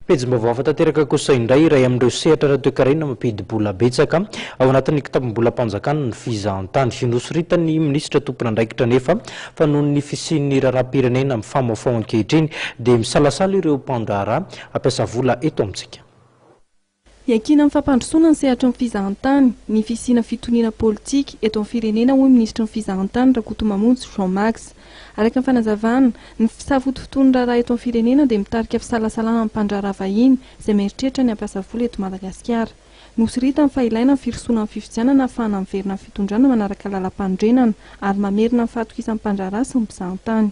Pejim-baovao hafa tanteraka kosa indray iray amin'ireo sehatra ara-toekarena mampidi-bola betsaka ao anatin'ny kitapom-bolam-panjakana ny fizahantany. Inosoritan'ny minisitra tompon'andraikitra anefa fa noho ny fisian'ny raharaham-pirenena mifamohafaoha ankehitriny dia misalasala ireo mpandraharaha hampiasa vola eto amintsika. Iankinan'ny fampandrosoana ny sehatry ny fizahantany ny fisiana fitoniana politika eto amin'ny firenena hoy ny minisitry ny Fizahantany Rakotomamonjy Jean Max. Araka ny fanazavana, ny fisafotofotoan'ny raharaha eto amin'ny firenena dia mitarika fisalasalana amin'ny mpandraharaha vahiny izay mieritreritra ny hampiasa vola eto Madagasikara. Nosiritany fa ilaina ny firosoana amin'ny fifidianana hahafahana miverina amin'ny fitondrana manaraka lalampanorenana ary mamerina ny fahatokisan'ny mpandraharaha sy ny mpizahantany.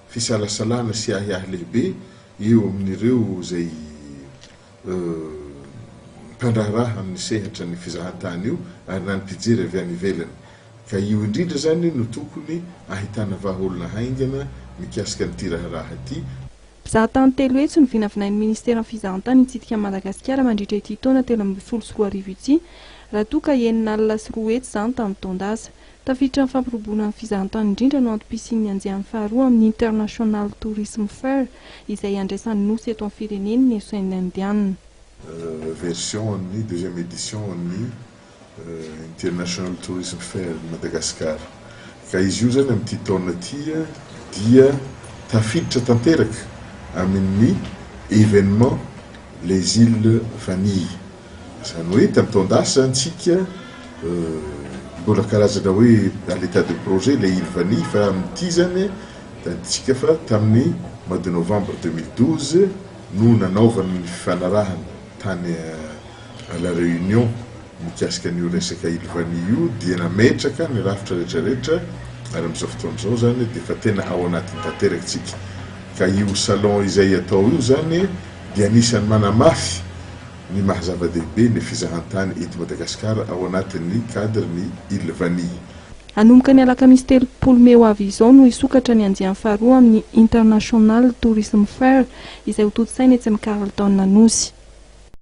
fisalasalana sy ahiahy lehibe eo amin'ireo izay mpandraharaha amin'ny sehatra ny fizahantany io ary na ny mpijery avy any ivelany ka io indrindra izany no tokony ahitana vahaolana haingana mikasika an'ity raharaha ity. Mpizahatany telo hetsy no vinavinain'ny ministeran'ny fizahantany hitsidika an'i Madagasikara mandritra ity taona telo ambin'ny folo sy roa arivo ity raha toa ka enina alina sy roa hetsy izany tamin'ny taon-dasa. Tafiditra amin'ny fampirobona ny fizahantany indrindra no antom-pisian'ny andiany faharoa amin'ny International Tourism Fair izay iandraisan'ny Nosy eto amin'ny firenen'ny Esoin'ny Indiana. version an'ny, deuxième édition an'ny, International Tourism Fair de Madagascar. Ka izy io izany amin'ity taona ity dia tafiditra tanteraka amin'ny événement Les Îles Vanille Izany hoe tamin'ny taon-dasa izany tsika mbola karazana hoe dans l'état de projet ilay île vanille fa amin'ity izany tadintsika fa tamin'ny mois de novembre deux mille douze no nanaovana ny fifanarahana tany à la Réunion mikasika an'io resaka île vanille io dia nametraka ny rafitra rehetrarehetra ary amin'izao fotoana izao izany dia efa tena ao anatiny tanteraka tsika ka io salon izay atao io izany dia anisan'ny manamafy Ny maha zava-dehibe ny fizahantany eto Madagasikara ao anatin'ny cadre ny Île Vanille. Hanomboka ny alakamisy telopolo mey ho avy izao no hisokatra ny andiany faharoa amin'ny International Tourism Fair izay hotontosaina etsy amin'ny Carlton Anosy.